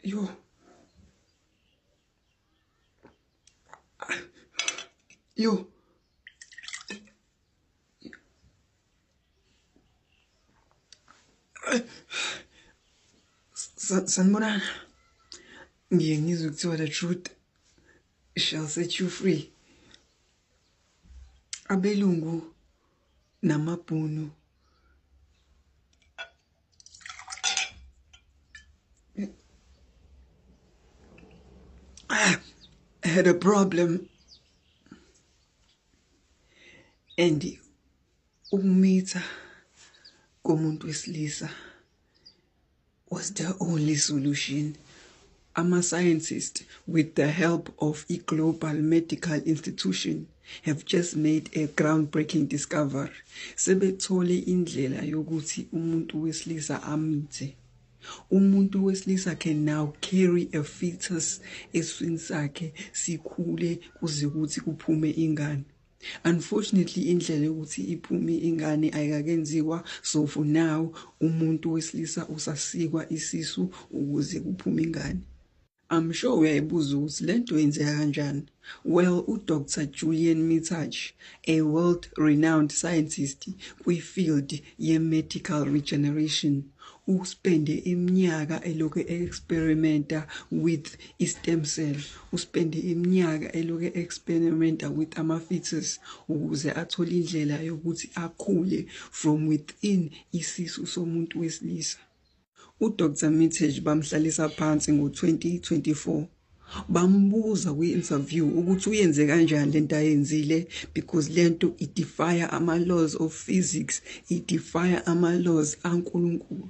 Yo. Yo. Sanibonana. Ngiye ngizwe kuthiwa the truth shall set you free. Abelungu namabhunu I had a problem and ukumitha komuntu wesilisa was the only solution. Ama-scientists, with the help of i-Global Medical Institution, have just made a groundbreaking discovery. Sebethole indlela yokuthi umuntu wesilisa amithe. Umuntu wesilisa can now carry a fetus eswini sakhe sikhule kuze kuthi kuphume ingane. Unfortunately indlela yokuthi iphume ingane ayikakenziwa so for now umuntu wesilisa usasikwa isisu ukuze kuphume ingane. I'm sure uyayibuza ukuthi lento yenzeka kanjani. Well, uDr Julian Mitsach, a world renowned scientist kwifield ye-medical regeneration, uspende iminyaka elokhu e-experimenta with I-stem cell uspende iminyaka eloke experimenta with ama-fetus ukuze athole indlela yokuthi akhule from within isisu somuntu wesilisa. UDr Mitesh bamhlalisa phansi ngo-2024 bambuza kwi-interview ukuthi uyenze kanjani lento ayenzile because lento idefire ama-laws of physics idefire ama-laws ankulunkulu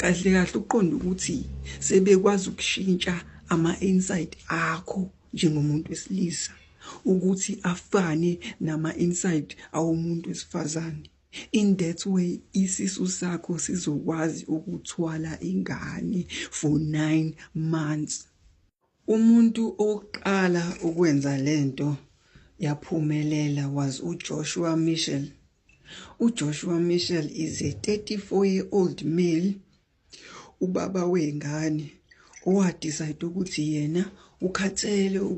Kahle kahle uqonda ukuthi sebekwazi ukushintsha ama-insight akho njengomuntu wesilisa ukuthi afane nama-insight awomuntu wesifazane in that way isisu sakho sizokwazi ukuthwala ingane for 9 months Umuntu owokuqala ukwenza le nto yaphumelela was uJoshua Michel. UJoshua Michel is a 34 year old male ubaba wey'ngane owadicide ukuthi yena ukhathele